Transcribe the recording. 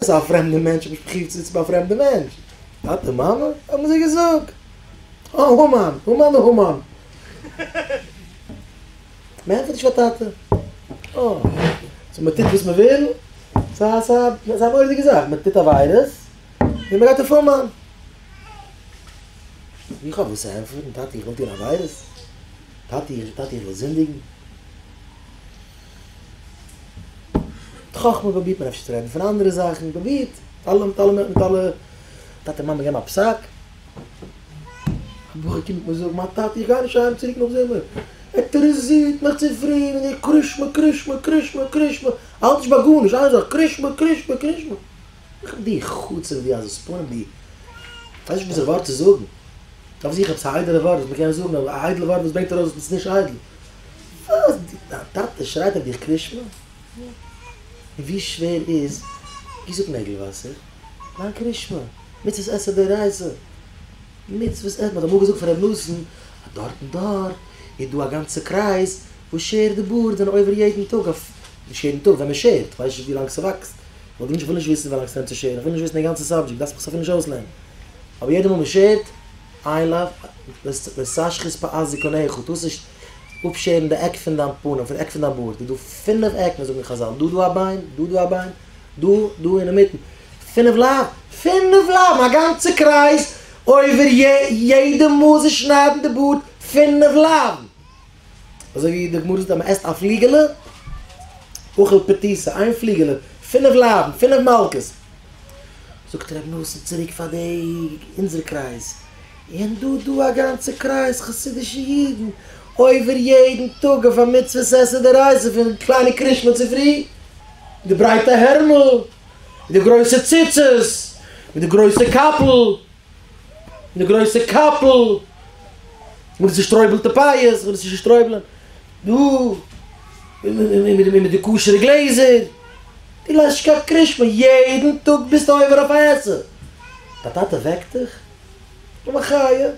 ס'איז א פרעמדע מענטש, האב איך פרובירט צו זיצן ביי א פרעמדע מענטש. טאטע מאמע? האבן זיי געזאגט. אה, המן, המן א המן. מען ענטפערט נישט פאר טאטע. אה, סאו מען טוט וואס מען וויל? סא סא ס'איז א מורא'דיגע זאך, מען טוט עבירות, און מען גייט אויף המן. איך האב וואס צו ענטפערן, טאטע איך וויל טון עבירות? טאטע איך, טאטע איך וויל זינדיגן? מיט חכמה פרובירט מען אפשר צו רעדן פון אנדערע זאכן, פרובירט מיט אלע מיט אלע מיט אלע, טאטע מאמע געבן א פסק, די בחור קומט מיר זאגן מיין טאטע איך גיי נישט אהיים צוריק נאך זומער, ער טעראזירט מיך צו פרי מיט די קרישמע קרישמע קרישמע קרישמע, איך האלט נישט ביי גארנישט, איין זאך קרישמע קרישמע קרישמע, איך בין די חוצף ווי א זספנים די, איך ווייס נישט וואס א ווארט צו זאגן, איך האב זיכער עפעס א איידעלע ווארט וואס מען קען זאגן אבער א איידל ווארט וואס ברענגט ארויס וואס איז נישט איידל, וואס? דיין טאטע שרייט אויף דיך קרישמע? און ווי שווער איז גיסוק נעגל וואסער? דיין קרישמע? מצוות עשה די רייזע? מצוות עשה? מ'האט אמאל געזאגט פון ר' נתן אז דארט און דארט איז דא א גאנצע קרייז וואס שערט די בארד זענען עובר יעדן טאג אויף, נישט יעדן טאג, ווען מ'שערט, כ'ווייס נישט ווילאנג ס'וואקסט, כ'וואלט געוואונטשן כ'וויל נישט וויסן ווילאנג ס'נעמט צו שערן, כ'וויל נישט וויסן די גאנצע סאבדזשעקט, דארף זיך אסאך נישט אויסלערנען, אבער יעדע מאל מ'שערט איי לאוו ווערסאש חוצפה אז דו קנאי איך האט טוסט נישט אפשערן די עק פון דיין פנים פון די עק פון דיין בארד איז דא פינף עקן זאגן חזל דא דא א ביין דא דא א ביין דא דא אינמיטן פינף לייב פינף לייב א גאנצע קרייז אויבער יעדע מאל זיך שניידן די בארד פינף לייבן. אזוי ווי די גמרא זאגט אז מען עסט א פליגעלע אוכל פטיסה, איין פליגעלע, פינף לייבן, פינף מלקות. זאגט רבי נתן צוריק פאר די אונזערע קרייז, און דא דא א גאנצע קרייז חסידישע אידן עובר יעדן טאג אויף א מצוות עשה דרייסע פון קליינע קרישמע צופרי, מיט די ברייטע הערמל, מיט די גרויסע ציצית, מיט די גרויסע קאפל. די גרויסע קאפל, מיט די צושטרויבלטע פייערס, מיט די צושטרויבלען דא, מיט די כשר'ע גלעזער, דו ליידסט שכח קרישמע, יעדן טאג ביסטו עובר אויף א עסער, דיין טאטע וועקט דיך? אוי מיין חיי!